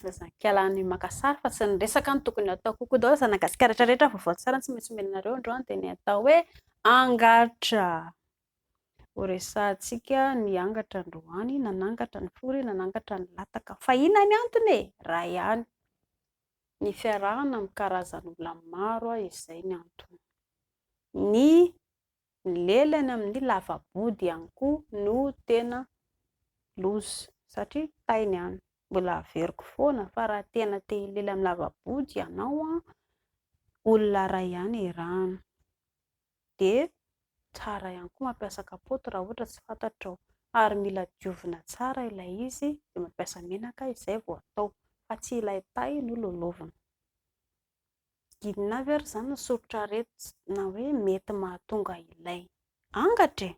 Zazankala ny maka sary fa tsy ny resaka no tokony atao kokoa daholo zanagasikara rehetra rehetra vaovao tsara tsy maintsy omenareo androany dia ny atao hoe angatra Horesahantsika ny angatra androany, nanangatra ny fory, nanangatra ny lataka. Fa inona ny antony e? Iray ihany, ny fiarahana amin'ny karazan'olona maro izay ny antony. Ny lelany amin'ny lava-body ihany koa no tena loza satria tay ny any. Mbola averiko foana fa raha tena te hilela amin'ny lava-body ianao, olona iray ihany arahina. dia tsara ihany koa mampiasa kapoty raha ohatra tsy fantatrao ary mila diovina tsara ilay izy dia mampiasa menaka izay vao atao fa tsy ilay tay no lolovinao. Inona avy ary izany ny soritra aretina na hoe mety mahatonga ilay angatra e?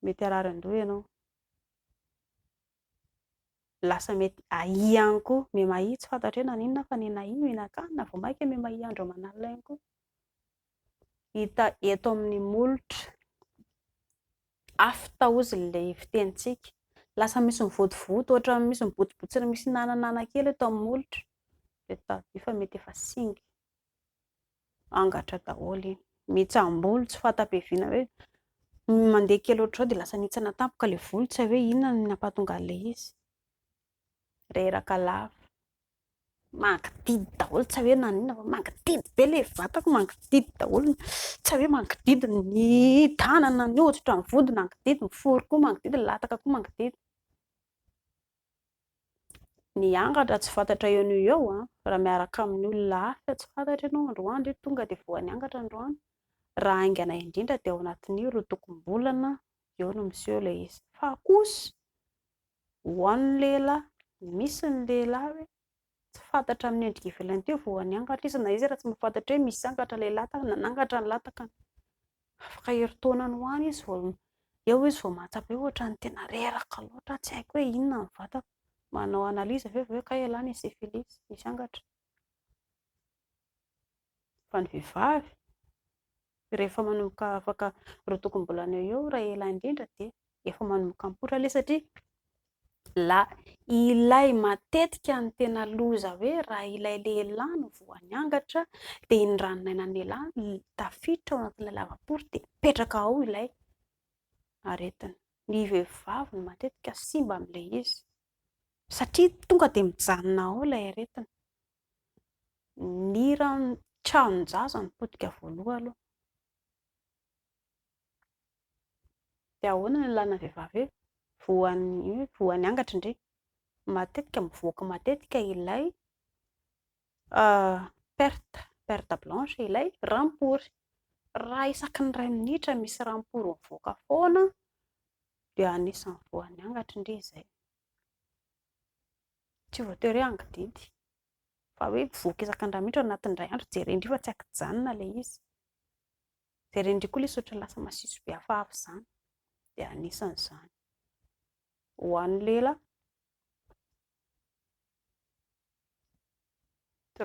Mety harary an-doha ianao. lasa mety ahia ihany koa me mahia tsy fantatra hoe naninona fa nena ahia mihinan-kanina vao mainka me mahia andro aman'alina ihany koa hita eto amin'ny molotra afo taozina ilay fitenintsika lasa misy mivotovoto ohatra misy mibotsibotsina misy nananana kely eto amin'ny molotra dia tadidio fa mety efa singa Angatra daholo iny. Mitsam-bolo tsy fahatapeviana hoe mandeha kely ohatr'izao dia lasa nihintsana tampoka ilay volo, tsy hay hoe inona no nampahatonga an'ilay izy. Reraka lava. Mangidihidy daholo tsy hay hoe naninona fa mangidihidy be ilay vatako, mangidihidy daholo. Tsy hay hoe mangidihidy ny tanana, ny hoditra, ny vody mangidihidy, ny foro koa mangidihidy, ny lataka koa mangidihidy. Ny angatra tsy fantatra eo noho eo raha miaraka amin'ny olona hafa tsy fantatra ianao androany dia tonga dia voan'ny angatra androany. Raha haingana indrindra dia ao anatin'ny roa tokom-bolana eo no miseho ilay izy. Fa kosa ho an'ny lehilahy, misy ny lehilahy hoe tsy fantatra amin'ny endrika ivelany teo vao niangatra izy na izy raha tsy mahafantatra hoe misy angatra ilay lataka na nangatra ny latakany. Afaka herintaona any ho any izy vao eo izy vao mahatsapa hoe ohatran'ny tena reraka loatra, tsy haiko hoe inona ny vatako. Manao analyse avy eo vao hoe kay ialahy nisy syphilis, nisy angatra. Fa ny vehivavy rehefa manomboka afaka roa tokom-bolana eo eo raha ela indrindra dia efa manomboka mipoitra ilay satria la ilay matetika ny tena loza hoe raha ilay lehilahy no voa niangatra dia iny ranon'ainan'ny lehilahy no tafiditra ao anatin'ilay lavapory dia mipetraka ao ilay aretina. Ny vehivavy no matetika simba amin'ilay izy satria tonga dia mijanona ao ilay aretina. ny hiran'ny tranon-jaza no potika voaloha aloha, dia ahoana no ilàna ny vehivavy hoe voan'ny angatry ndry? matetika mivoaka matetika ilay perte, perte blanche, ilay rampory, raha isaky ny iray minitra misy rampory mivoaka foana dia anisan'ny voan'ny angatry ndry izay. Tsy voatery hoe angidinty, fa hoe voky isan-kandrana mihitsy ao anatin'ny indray andro, jeren'dry fa tsy an-kijanona ilay izy. Jeren'dry koa ilay izy ohatran'ny lasa masiso be hafahafa izany, dia anisan'izany. Ho an'ny lela,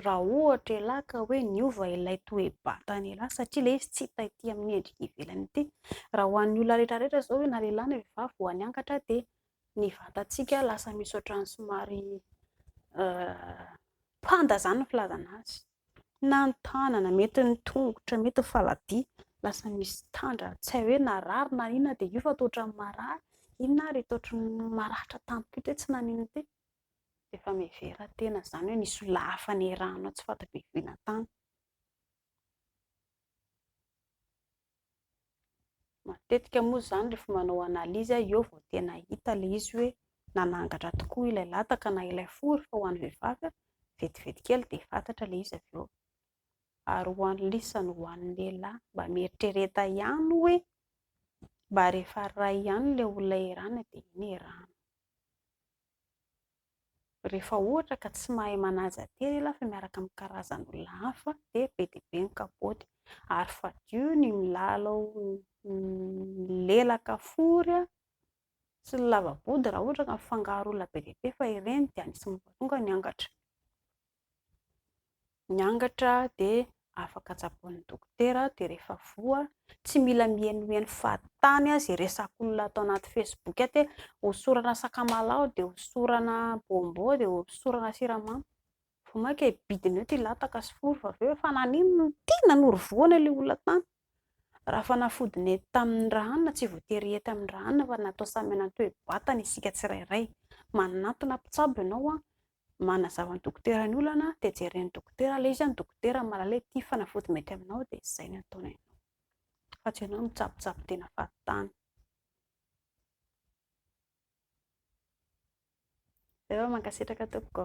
Raha ohatra elah ka hoe niova ilay toe-batany elah satria ilay izy tsy hita ety amin'ny endrika ivelany ity. Raha ho an'ny olona rehetra rehetra izao hoe na lehilahy na vehivavy vao niangatra dia ny vatantsika lasa misy ohatran'ny somary panda izany ny filazana azy. Na ny tanana, mety ny tongotra, mety ny faladia lasa misy tandra, tsy hay hoe narary na inona dia io fa toa ohatran'ny marary. Inona ary ity ohatran'ny maratra tampoka ity hoe tsy naninona ity? Efa mihevera tena izany hoe nisy olona hafa niarahanao tsy fantatra ivelantany. Matetika moa izany rehefa manao analyse aho eo vao tena hita ilay izy hoe nanangatra tokoa ilay lataka na ilay fo rehefa ho an'ny vehivavy, vetivety kely dia fantatra ilay izy avy eo. Ary ho an'ny lisa no ho an'ny lehilahy, mba mieritrereta ihany hoe mba rehefa ray ihany ilay olona iarahana dia iny iarahana. Rehefa ohatra ka tsy mahay manaja tena ianao fa miaraka amin'ny karazan'olona hafa dia be dia be ny kapoaka ary fadio ny milalao milelaka fory sy ny lava-body raha ohatra ka mifangaro olona be dia be fa ireny dia anisan'ny mahatonga ny angatra. ny angatra dia afaka tsaboin'ny dokotera dia rehefa voa tsy mila mihenoheno fahatany azy resakon'olona ato anaty fesiboky aty hoe hosorana sakamalaho dia hosorana bombô dia hosorana siramamy vao mainka hibidina eo ity lataka sy foro fa avy eo efa naninona no ity nanory vohoana ilay olona tany raha fanafody nety tamin'ny ra hanina tsy voatery hety amin'ny ra hanina fa natao samy hanana ny toe-batany isika tsirairay manantona mpitsabo ianao Manazava ny dokotera ny olana dia jeren'ny dokotera ilay izy an, dokotera ny malala hoe ity fanafody mety aminao dia izay no ataony anao fa tsy ianao mitsabotsaboka tena fahatany. Zay fa mankasitraka tompoko.